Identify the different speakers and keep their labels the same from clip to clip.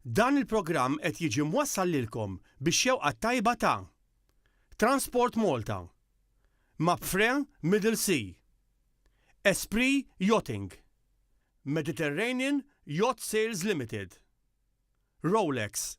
Speaker 1: Dan il-programm qed jiġi mwassal lilkom bix-xewqa t-tajba ta' Transport Malta, Mapfre Middle Sea, Esprit Yachting, Mediterranean Yacht Sales Limited, Rolex,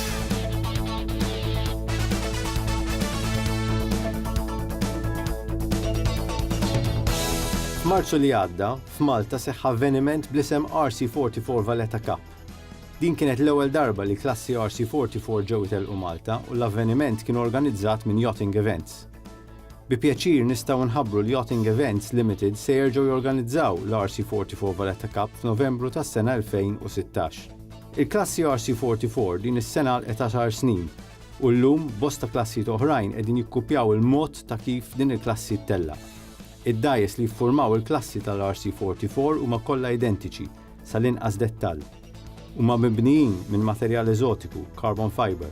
Speaker 2: F'Marzu li għadda, f'Malta seħħ avveniment bl-isem RC44 Valletta Cup. Din kienet l-ewwel darba li klassi RC44 ġew itellqu Malta u l-avveniment kien organizzat minn Yachting Events. Bi pjaċir nistgħu nħabbru li Yachting Events Limited se jerġgħu jorganizzaw l-RC44 Valletta Cup f'Novembru tas-sena 2016. Il-klassi RC44 din is-sena għalqet għaxar snin u llum bosta klassijiet oħrajn qegħdin jikkuppjaw il-mod ta' kif din il-klassi ttellaq. Id-dgħajjes li jiffurmaw il-klassi tal-RC44 huma kollha identiċi sal-inqas dettall. Huma mibnijin minn materjal eżotiku, carbon fibre.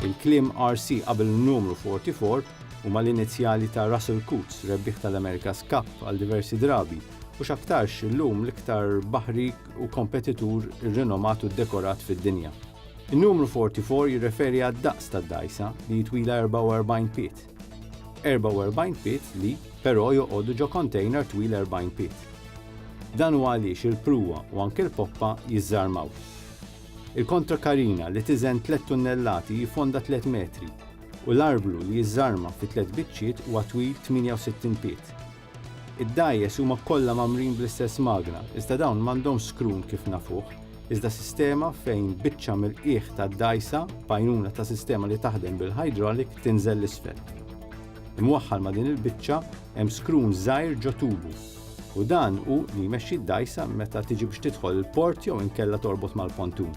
Speaker 2: Il-kliem RC qabel in-numru 44 huma l-inizjali ta' Russell Coutts, rebbieħ tal-America's Cup għal diversi drabi, u x'aktarx illum l-iktar baħri u kompetitur irrinomat u ddekorat fid-dinja. In-numru 44 jirreferi għad-daqs tad-dgħajsa, li hi twila 44 pied. 44 pied li, però, joqogħdu ġo kontejner twil 40 pied. Dan huwa għaliex il-pruwa u anke l-poppa jiżżarmaw. Il-kontrakarina li tiżen 3 tunnellati hi fonda 3 metri u l-arblu li jiżżarma fi tliet biċċiet huwa twil 68 pied. Id-dgħajjes huma kollha mgħammrin bl-istess magna, iżda dawn m'għandhomx skrun kif nafuh, iżda sistema fejn biċċa mill-qiegħ tad-dgħajsa, b'għajnuna ta' sistema li taħdem bil-hydraulic, tinżel 'l isfel. Imwaħħal ma' din il-biċċa hemm skrun żgħir ġo tubu, u dan hu li jmexxi d-dgħajsa meta tiġi biex tidħol il-port jew inkella torbot mal-pontun.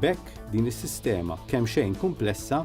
Speaker 2: B'hekk, din is-sistema kemxejn kumplessa,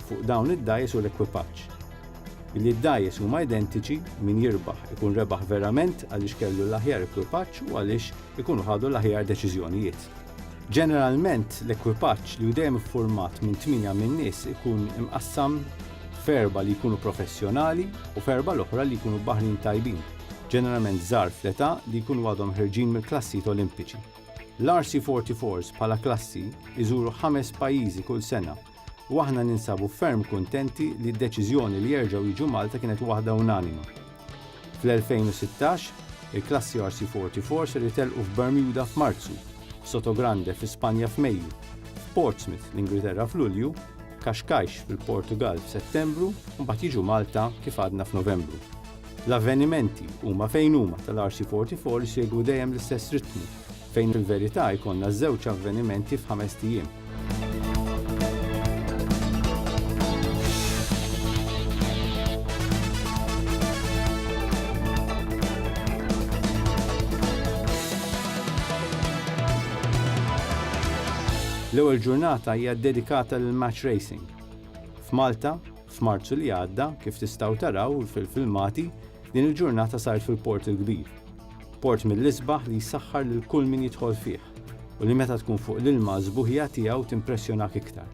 Speaker 2: fuq dawn id-dgħajjes u l-ekwipaġġ. Billi d-dgħajjes huma identiċi, min jirbaħ ikun rebaħ verament għaliex kellu l-aħjar ekwipaġġ u għaliex ikunu ħadu l-aħjar deċiżjonijiet. Ġeneralment, l-ekwipaġġ, li hu dejjem iffurmat minn tmienja minn nies, ikun imqassam f'erbgħa li jkunu professjonali u f'erbgħa l-oħra li jkunu baħrin tajbin, ġeneralment żgħar fl-età li jkunu għadhom ħerġin mill-klassijiet Olimpiċi. L-RC44s bħala klassi jżuru ħames pajjiżi kull sena. u aħna ninsabu ferm kuntenti li d-deċiżjoni li jerġgħu jiġu Malta kienet waħda unanima. Fl-2016, il-klassi RC44 ser jitellqu f'Bermuda f'Marzu, Sotogrande fi Spanja f'Mejju, f'Portsmouth l-Ingilterra f'Lulju, Cascais fil-Portugal f'Settembru u mbagħad jiġu Malta kif għadna f'Novembru. L-avvenimenti huma fejn huma tal-RC44 jsegwu dejjem l-istess ritmu Fejn fil-verità jkollna żewġ avvenimenti f'ħamest ijiem. L-ewwel ġurnata hija ddedikata lill-match racing. F'Malta, f'Marzu li għadda, kif tistgħu taraw fil-filmati, din il-ġurnata saret fil-Port il-Kbir. Port mill-isbaħ li jsaħħar lil kull min jidħol fih u li meta tkun fuq l-ilma s-sbuħija tiegħu timpressjonak iktar.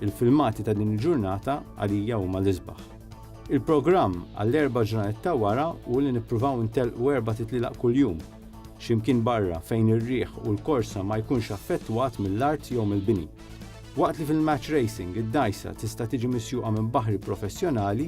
Speaker 2: Il-filmati ta' din il-ġurnata għalija huma l-isbaħ. Il-programm għall-erba' ġranet ta' wara hu li nippruvaw intellqu erbat itlielaq kuljum, xi mkien barra fejn ir-riħ u l-korsa ma jkunx affettwat mill-art jew mill-bini. Waqt li fil-match racing id-dgħajsa tista' tiġi misjuqa minn baħri professjonali,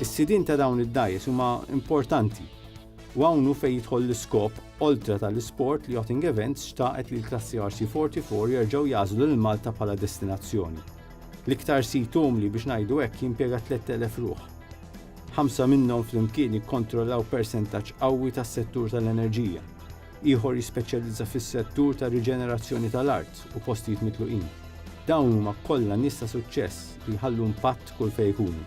Speaker 2: Is-sidien ta' dawn id-dgħajjes huma importanti u hawn hu fejn jidħol l-iskop oltre tal-isport li Yachting Events xtaqet li l-klassi RC44 jerġgħu jagħżlu lil Malta bħala destinazzjoni. L-iktar sit umli biex ngħidu hekk jimpjega 3,000 ruħ. Ħamsa minnhom flimkien jikkontrollaw persentaġġ qawwi tas-settur tal-enerġija. Ieħor jispeċjalizza fis-settur tar-riġenerazzjoni tal-art u postijiet mitluqin. Dawn huma kollha nies ta' suċċess li jħallu impatt kull fejn jkunu.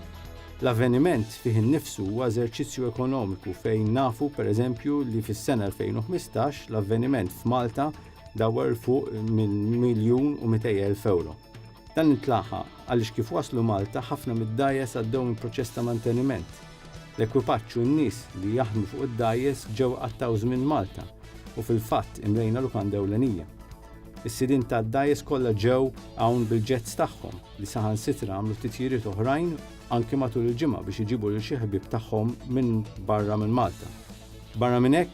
Speaker 2: L-avveniment fih innifsu huwa eżerċizzju ekonomiku fejn nafu, per eżempju, li fis-sena 2015 l-avveniment f'Malta dawwar 'l fuq minn miljun u mitej elf ewro. Dan intlaħaq għaliex kif waslu Malta ħafna mid-dgħajjes għaddew minn proċess ta' manteniment. L-ekwipaġġ u n-nies li jaħdmu fuq id-dgħajjes ġew iqattgħu żmien Malta u fil-fatt imlejna lukanda ewlenija. Is-sidien tad-dgħajjes kollha ġew hawn bil-jets tagħhom li saħansitra għamlu titjiriet oħrajn anki matul il-ġimgħa biex iġibu lil xi ħbieb tagħhom minn barra minn Malta. Barra minn hekk,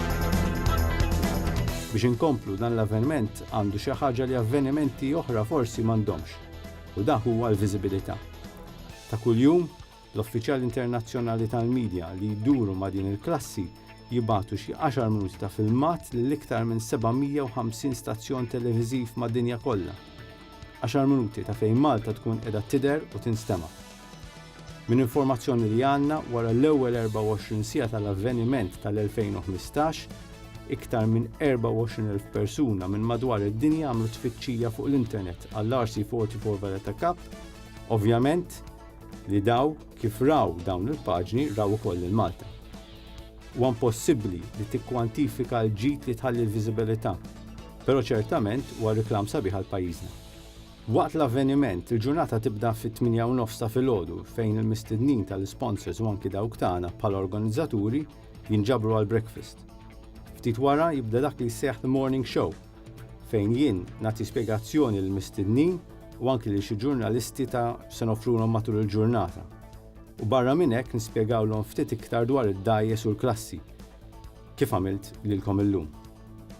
Speaker 2: Biex inkomplu dan l-avveniment għandu xi ħaġa li avvenimenti oħra forsi m'għandhomx, u dak huwa l-viżibilità. Ta' kuljum, l-uffiċjali internazzjonali tal-medja li jduru ma' din il-klassi jibatu xi 10 minuti ta' filmat lil iktar minn 750 stazzjon televiżiv mad-dinja kollha. 10 minuti ta' fejn Malta tkun qiegħda tidher u tinstema'. Minn informazzjoni li għandna, wara l-ewwel 24 siegħa tal-avveniment tal-2015, iktar minn 24,000 persuna minn madwar id-dinja għamlu tfittxija fuq l-internet għall-RC44 Valletta Cup, ovvjament li daw kif raw dawn il-paġni raw ukoll lil Malta. Huwa impossibbli li tikkwantifika l-ġid li tħalli l-viżibilità, però ċertament huwa reklam sabiħ għal pajjiżna. Waqt l-avveniment, il-ġurnata tibda fit-tmienja u nofs ta' filgħodu fejn il-mistednin tal-isponsors u anki dawk tagħna bħala organizzaturi jinġabru għall-breakfast. Ftit wara jibda dak li jissejjaħ The Morning Show fejn jien nagħti spjegazzjoni lill-mistednin u anki lil xi ġurnalisti ta' x'se noffrulhom matul il-ġurnata. U barra minn hekk nispjegawlhom ftit iktar dwar id-dgħajjes u l-klassi, kif għamilt lilkom illum.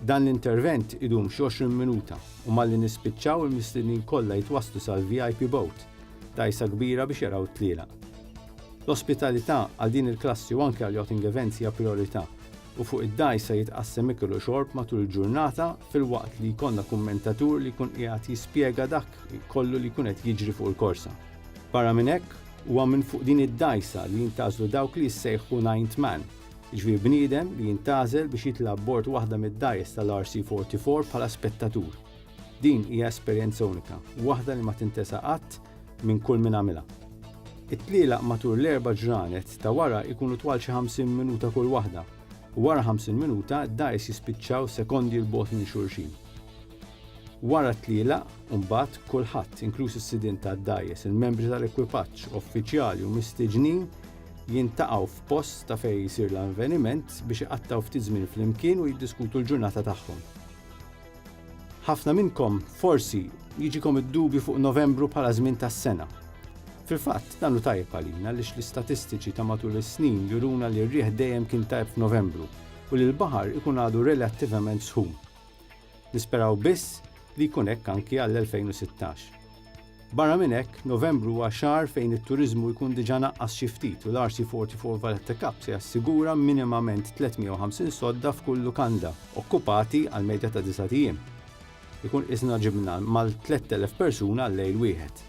Speaker 2: Dan l-intervent idum xi 20 minuta u malli nispiċċaw il-mistednin kollha jitwasslu sal-VIP Boat, dgħajsa kbira biex jaraw it-tlielaq. L-ospitalità għal din il-klassi u anke għall-yachting events hija prijorità u fuq id-dgħajsa jitqassem ikel u xorb matul il-ġurnata filwaqt li jkollna kummentatur li jkun qiegħed jispjega dak kollu li jkun qed jiġri fuq il-korsa. Barra minn hekk, huwa minn fuq din id-dgħajsa li jintgħażlu dawk li jissejħu Ninth Man, jiġifieri bniedem li jintgħażel biex jitla' abbord waħda mid-dgħajjes tal-RC44 bħala spettatur. Din hija esperjenza unika, waħda li ma tintesa qatt minn kull min għamilha. It-tlielaq matul l-erba' ġranet ta' wara jkunu twal xi 50 minuta kull waħda, u wara 50 minuta d-dgħajjes jispiċċaw sekondi 'l bogħod minn xulxin. Wara t-tlielaq, imbagħad, kulħadd, inkluż is-sidien tad-dgħajjes, il-membri tal-ekwipaġġ, uffiċjali u mistiġnin, jintaqgħu f'post ta' fejn jsir l-avveniment biex iqattgħu ftit żmien flimkien u jiddiskutu l-ġurnata tagħhom. Ħafna minnkom forsi jiġikom id-dubju fuq Novembru bħala żmien tas-sena. Fil-fatt, dan hu tajjeb għalina għaliex l-istatistiċi ta' matul is-snin juruna li r-riħ dejjem kien tajjeb f'Novembru u li l-baħar ikun għadu relattivament sħun. Nisperaw biss li jkun hekk anki għall-2016. Barra minn hekk, Novembru huwa xahar fejn it-turiżmu jkun diġà naqqas xi ftit u l-RC44 Valletta Cup se jassigura minimament 350 sodda f'kull lukanda okkupati għal medja ta' disgħat ijiem. Ikun qisna ġibna mal-3,000 persuna għal lejl wieħed.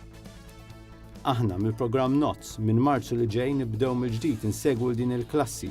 Speaker 2: Aħna, mill-programm NOTS, minn Marzu li ġej nibdew mill-ġdid insegwu 'l din il-klassi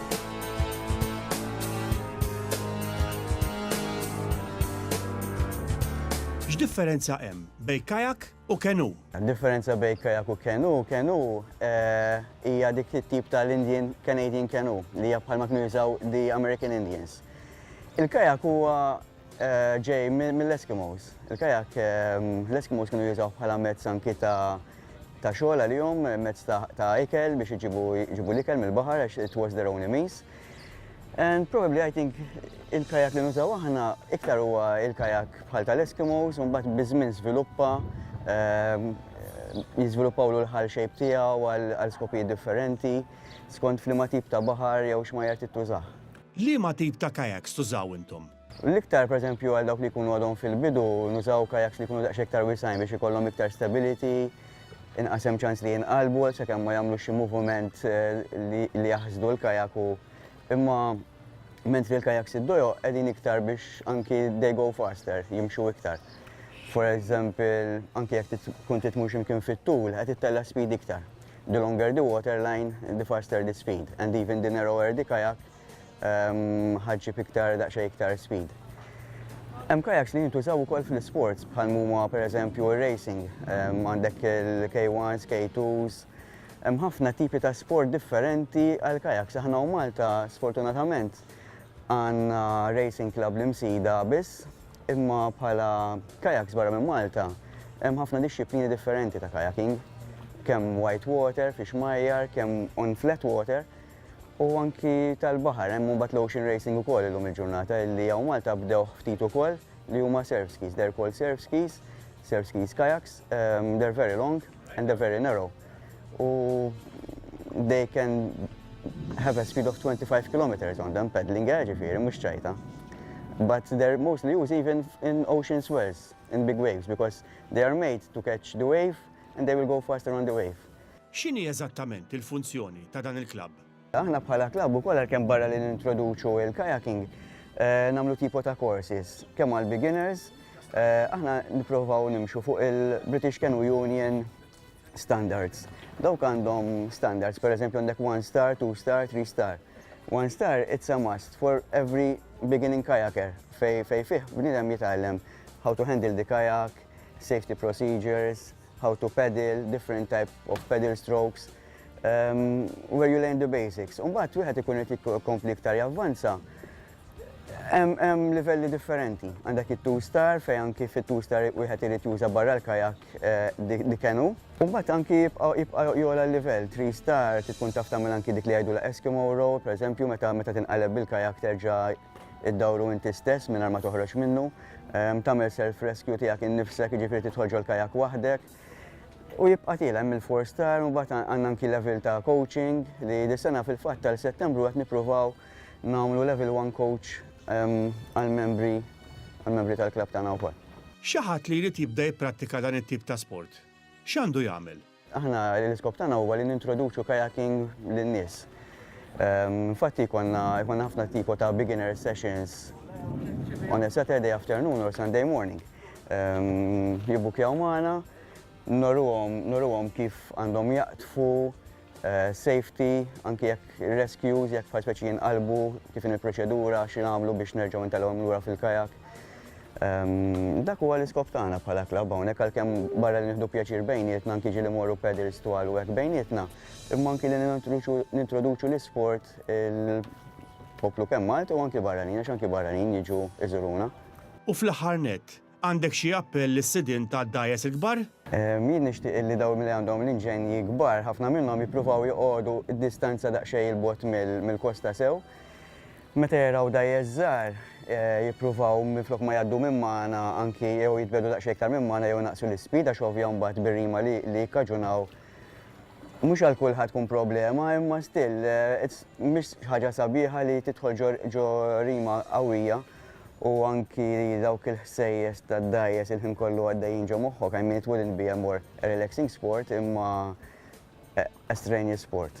Speaker 1: X'differenza hemm bejn kajak u kenu? Differenza bejn
Speaker 3: kajak u kenu, kenu eh, hija dik it-tip tal-Indian Canadian kenu li hija bħalma kienu jużaw the American Indians. Il-kajak huwa ġej mill-Eskimos. Il-kajak l-Eskimos kienu jużawh bħala mezz anki ta' ta' xogħol għalihom, mezz ta' ikel biex iġibu l-ikel mill-baħar għax it was their only means. And probably I think il-kajak li nużaw aħna iktar huwa il-kajak bħal tal-Eskimos, un bat bizmin sviluppa, ehm, jizviluppaw l-ħal xejb tiegħu għal skopijiet differenti, skont flima tip ta' baħar jew xmajjar tittużaħ. Liema tip ta'
Speaker 1: kayaks tużaw intom? L-iktar, pereżempju,
Speaker 3: għal dawk li jkunu għadhom fil-bidu, nużaw kayaks li jkunu daqsxejn iktar wiesgħin biex ikollhom iktar stability, inqas hemm ċans li jinqalbu għal sakemm ma jagħmlux xi moviment li jaħsdu l-kayak u imma mentri l-kayaks id-dojoq qegħdin iktar biex anki they go faster, jimxu iktar. For example, anki jekk tkun trid tmur xi mkien fit-tul, qed ittella' speed iktar. the longer the water line, the faster the speed, and even the narrower the kayak, ħa ġġib iktar daqsxejn iktar speed. Hemm kajaks li jintużaw ukoll fl-isports bħal huma pereżempju r-racing, għandek il-K1s, K2s, hemm ħafna tipi ta' sport differenti għal kajaks. Aħna u Malta sfortunatament għandna racing club l-imsida biss Imma bħala kayaks barra minn Malta, hemm ħafna dixxiplini differenti ta' kayaking, kemm white water, fix-xmajjar, kemm on flat water, u anki tal-baħar. Hemm imbagħad l-ocean racing ukoll illum il-ġurnata, illi hawn Malta bdewh ftit ukoll, li huma surf skis. They're called surf skis, surf skis kayaks, they're very long and they're very narrow. u they can have a speed of 25 kilometers on them peddling air ġifiri, mux ċajta. But they're mostly used even in ocean swells, in big waves, because they are made to catch the wave and they will go faster on the wave. X'inhi
Speaker 1: eżattament il-funzjoni ta' dan il-klabb? Aħna bħala klabb
Speaker 3: ukoll għalkemm barra li nintroduċu il-kayaking, eh, namlu tipo ta' courses, kemm għal beginners, eh, aħna nipprovaw nimxu fuq il-British Canoe Union standards. Dawk għandhom standards, per eżempju għandek one star, two star, three star. One star it's a must for every beginning kayaker fej fej fih bnidem jitgħallem how to handle the kayak, safety procedures, how to paddle, different type of paddle strokes, um, where you learn the basics. Umbat, wieħed ikun qed jikkompli iktar javvanza, Hemm livelli differenti. Għandek it-two-star fejn anki fit-two-star wieħed irid juża barra l-kajak eh, dik kenu. U mbagħad anki jibqa' jola l-livell, three-star tkun taf tagħmel anki dik li jgħidulha Eskimo roll, pereżempju meta meta tinqaleb bil-kajak terġa' iddawru inti stess mingħajr ma toħroġ minnu, ehm, tagħmel self-rescue tiegħek innifsek, jiġifieri tidħol ġol-kajak waħdek. U jibqa' tiela hemm il-four-star u mbagħad għandna anki level ta' coaching li dis-sena fil-fatt tal-Settembru qed nippruvaw nagħmlu level one coach għall-membri għall-membri tal-klabb tagħna wkoll. Xi ħadd li jrid
Speaker 1: jibda jipprattika dan it-tip ta' sport, x'għandu jagħmel? Aħna l-iskop
Speaker 3: tagħna huwa li nintroduċu kayaking lin-nies. Infatti jkollna jkollna ħafna tipo ta' beginner sessions on a Saturday afternoon or Sunday morning. Jibbukjaw magħna, noruhom noruhom kif għandhom jaqtfu, safety, anki jekk ir-rescues, jekk bħal speċi jinqalbu, kif inhi l-proċedura, xi nagħmlu biex nerġgħu ntelgħuhom lura fil-kajak. Ehm, dak huwa l-iskop tagħna bħala klabb hawnhekk għalkemm barra li nieħdu pjaċir bejnietna anki ġieli morru pedals twal u hekk bejnietna, imma anki li nintroduċu l-isport il-poplu kemm Malta u anki barranin, għax anki barranin jiġu iżuruna. U fl-aħħar
Speaker 1: nett, Għandek xi appell lis-sidien tad-dgħajjes il-kbar? Jien nixtieq
Speaker 3: illi dawk li għandhom l-inġenji kbar, ħafna minnhom jippruvaw joqogħdu distanza daqsxejn 'il bogħod mill-kosta sew. Meta jaraw dgħajjes żgħar, jippruvaw minflok ma jgħaddu minn magħna anki jew jitbiegħdu daqsxejn iktar minn magħna jew inaqqsu l-ispeed għax ovvja mbagħad bir-rima li jikkaġunaw Mhux għal kulħadd tkun problema imma still eh, mhix ħaġa sabiħa li tidħol ġo rima qawwija u anki dawk il-ħsejjes tad-dajes il-ħin kollu għaddejjin ġo moħħok, I mean it wouldn't be a more relaxing sport imma eh, a strenuous sport.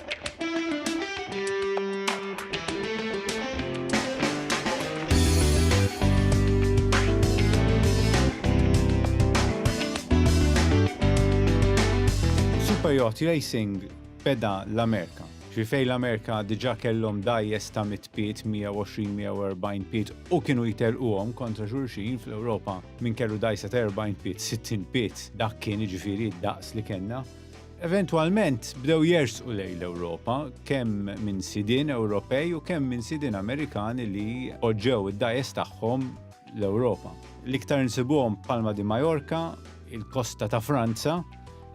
Speaker 2: Superyacht Racing beda l-Amerika. Ġifej l-Amerika diġa kellhom dajjes ta' mit piet, 120-140 piet u kienu jitelquhom kontra xulxin fl-Ewropa minn kellu dajsa ta' 40 piet, 60 piet, dak kien ġifiri daqs li kellna. Eventwalment bdew jersqu lejn l-Ewropa kemm minn sidien Ewropej u kemm minn sidien Amerikani li poġġew id-dgħajjes tagħhom l-Ewropa. L-iktar insibuhom Palma di Mallorca, il-kosta ta' Franza,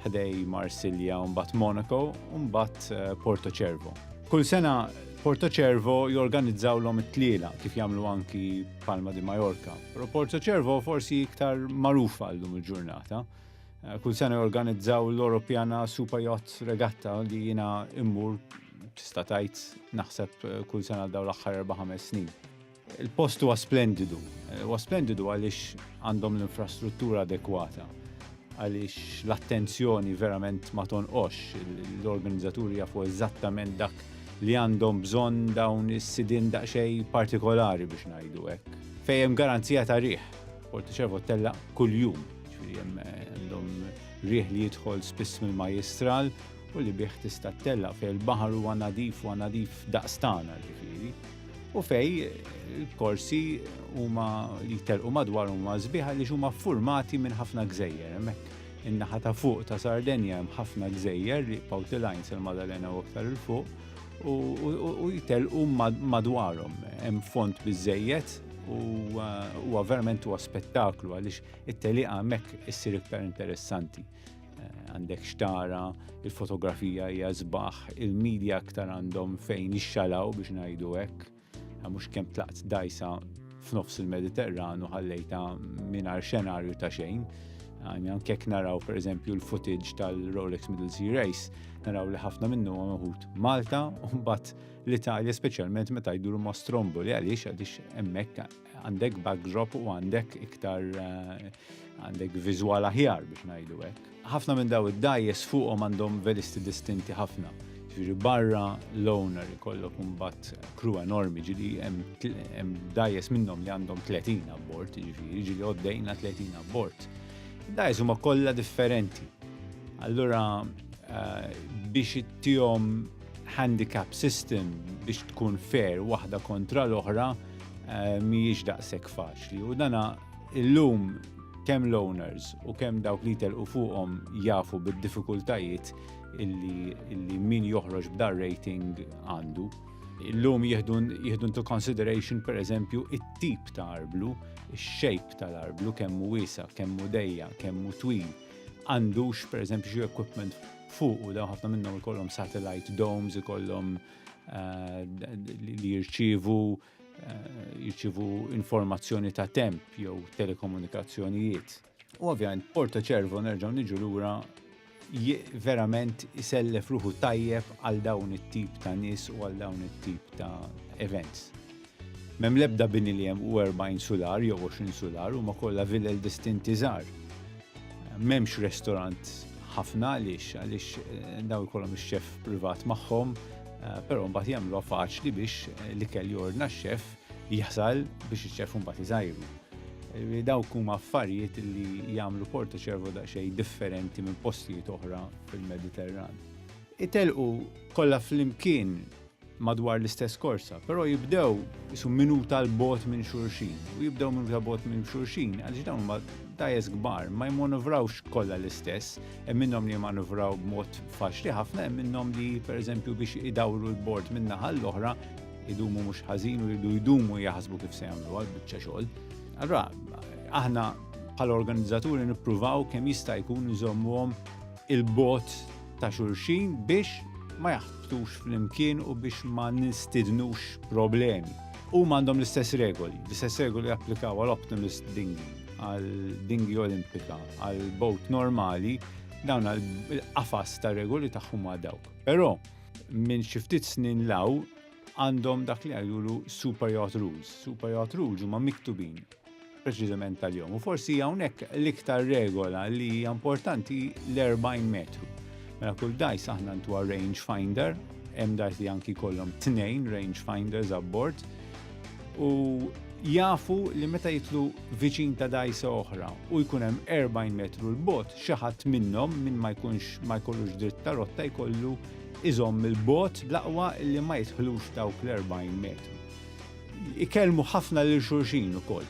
Speaker 2: ħdej Marsilja u mbagħad Monaco u mbagħad Porto Cervo. Kull sena Porto Cervo jorganizzawlhom it-tlielaq kif jagħmlu anki Palma di Mallorca, però Porto Cervo forsi iktar magħrufa llum il-ġurnata. Eh, kull sena jorganizzaw l-Europjana Super Yacht Regatta li jina immur tista' tajt naħseb eh, kull sena daw l-aħħar 4-5 snin. Il-post huwa splendidu. Eh, huwa splendidu għaliex għandhom l-infrastruttura adekwata għaliex l-attenzjoni verament ma tonqox l-organizzaturi jafu eżattament dak li għandhom bżonn dawn is-sidin daqsxejn partikolari biex ngħidu hekk. Fejjem garanzija ta' riħ Portiċervo tellaq kuljum, ġifieri hemm eh, għandhom riħ li jidħol spiss mill-majistral u li bih tista' tella fej il-baħar huwa nadif u nadif daqstana ġifieri. U fej il-korsi huma li telqu madwar huma sbieħa li huma formati minn ħafna gżejjer hemmhekk. In-naħa ta' fuq ta' Sardenja hemm ħafna gżejjer li Pawtilajn sal-Madalena u aktar il-fuq u jitelqu madwarhom. Hemm font biżejjed u huwa verament huwa spettaklu għaliex it-teliqa hemmhekk issir iktar interessanti. Eh, għandek xtara, il-fotografija hija żbaħ, il-medja aktar għandhom fejn ixxalaw biex ngħidu hekk. Għal mhux kemm tlaqt dajsa f'nofs il-Mediterran u ħallejta mingħajr xenarju ta' xejn. Għani għankek naraw per eżempju l-footage tal-Rolex Middle Sea Race, naraw li ħafna minnu għamħut Malta, un bat l-Italja specialment meta jduru ma' Stromboli għaliex għaliex emmek Għandek backdrop u għandek iktar eh, għandek viżwal aħjar biex ngħidu hekk. Ħafna minn daw id-dajes fuqhom għandhom velisti distinti ħafna. Ġifieri barra l-owner ikollok imbagħad kru enormi ġili hemm dajes minnhom li għandhom 30 abbord, ġifieri ġili għoddejna 30 abbord. Dajes huma kollha differenti. Allura eh, biex ittihom handicap system biex tkun fair waħda kontra l-oħra eh, mhijiex daqshekk faċli u dana illum kemm l-owners u kemm dawk li telqu fuqhom jafu bid-diffikultajiet illi, illi min joħroġ b'dar rating għandu. Illum jieħdu into consideration per eżempju it-tip ta' arblu, ix-shape tal-arblu, kemm hu wiesa, kemm hu dejja, kemm hu twil. Għandux per eżempju xi equipment fuq u daw ħafna minnhom ikollhom satellite domes, ikollhom li jirċievu jirċivu informazzjoni ta' temp jew telekomunikazzjonijiet. U ovvjament Porto Cervo nerġgħu niġu lura verament isellef ruħu tajjeb għal dawn it-tip ta' nies u għal dawn it-tip ta' events. M'hemm l-ebda bini li hemm u 40 sular jew 20 sular huma kollha villel distinti żgħar. M'hemmx restorant ħafna għaliex għaliex eh, daw ikollhom ix-xef privat magħhom, eh, però mbagħad jagħmluha faċli biex eh, l-ikel jordna x-xef jaħsal biex iċ-xef mbagħad iżajru. Dawk huma affarijiet li jagħmlu Porto Ċervo daqsxejn differenti minn postijiet oħra fil-Mediterran. Itelqu kollha flimkien madwar l-istess korsa, però jibdew isu minuta l bogħod minn xulxin. U jibdew minuta bogħod minn xulxin għaliex dawn huma dajes kbar, ma jmanuvrawx kollha l-istess, hemm minnhom li jmanuvraw b'mod faċli ħafna, hemm minnhom li pereżempju biex idawru l-bord minn naħa l-oħra idumu mhux ħażin u jridu jdumu jaħsbu kif se jagħmlu għal biċċa xogħol. Allura aħna bħal organizzaturi nippruvaw kemm jista' jkun nżommuhom il-bot ta' xulxin biex ma jaħbtux flimkien u biex ma nistidnux problemi. U għandhom l-istess regoli, l-istess regoli japplikaw għal Optimist Dingi, għal Dingi Olimpika, għal boat normali, dawn il-qafas ta' regoli tagħhom ma' dawk. Però minn xi ftit snin law għandhom dak li għajulu super yacht rules. Super yacht rules huma miktubin preċiżament tal-jom. U forsi hawnhekk l-iktar regola li hija importanti l-40 metru. Mela kull dajs aħna ntuha range finder, hemm dajs li anki kollhom tnejn range finders abbord u jafu li meta jitlu viċin ta' dajsa oħra u jkun hemm 40 metru l-bot, xi ħadd minnhom minn ma jkunx ma jkollux dritt ta' rotta jkollu iżomm il-bot bl-aqwa li ma jidħlux dawk l-40 metru. Ikellmu ħafna lil xulxin ukoll.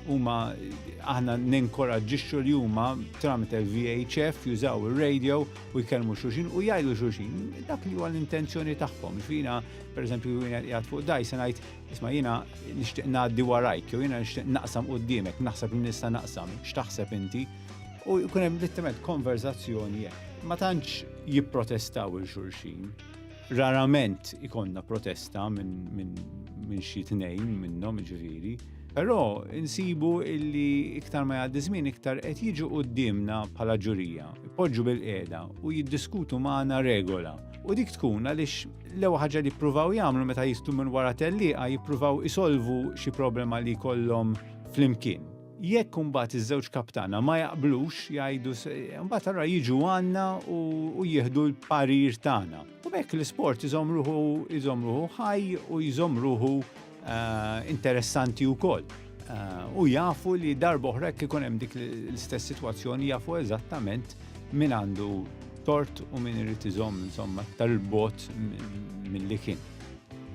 Speaker 2: Huma aħna ninkoraġġixxu li huma tramite l-VHF jużaw ir-radio u jkellmu xulxin u jgħidu xulxin dak li huwa l-intenzjoni tagħhom. X'ina pereżempju jiena qiegħed fuq daj se ngħid isma' jiena nixtieq ngħaddi warajk jew jiena nixtieq naqsam qudiemek, naħseb li nista' naqsam, x'taħseb inti? U jkun hemm littement konverzazzjoni ma tantx jipprotestaw il xulxin. Rarament ikonna protesta minn min, min xi tnejn minnhom ġifieri. Però insibu illi iktar ma jgħaddi żmien iktar qed jiġu qudiemna bħala ġurija, ipoġġu bil-qiegħda u jiddiskutu magħna regola. U dik tkun għaliex l-ewwel ħaġa li jippruvaw jagħmlu meta jistu minn wara tellieqa jippruvaw isolvu xi problema li jkollhom flimkien. Jekk imbagħad iż-żewġ kaptana ma jaqblux, jgħidu imbagħad allura jiġu għandna u jieħdu l-parir tagħna. U hekk l-isport iżomm ruħu iżomm ruħu ħaj u jżomm ruħu eh, interessanti wkoll. Eh, u jafu li darba oħra jekk ikun hemm dik l-istess sitwazzjoni jafu eżattament min għandu tort u min irid iżomm insomma tal-bot mill-li kien.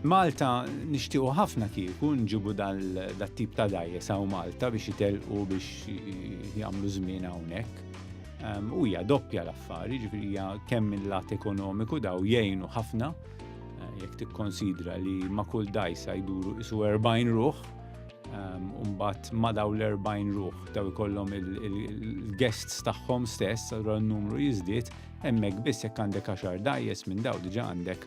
Speaker 2: Malta nixtiequ ħafna kieku nġibu dal-tip ta' dajjes hawn Malta biex jitelqu biex jagħmlu żmien hawnhekk. Ehm, u hija doppja l-affari, ġifieri hija kemm il-lat ekonomiku daw jgħinu ħafna eh, jekk tikkonsidra li ma' kull dajsa jduru isu 40 ruħ, ehm, Umbat ma daw l-40 ruħ daw ikollhom il-guests tagħhom stess, allura n-numru jiżdied, hemmhekk biss jekk għandek għaxar dajjes minn daw diġà għandek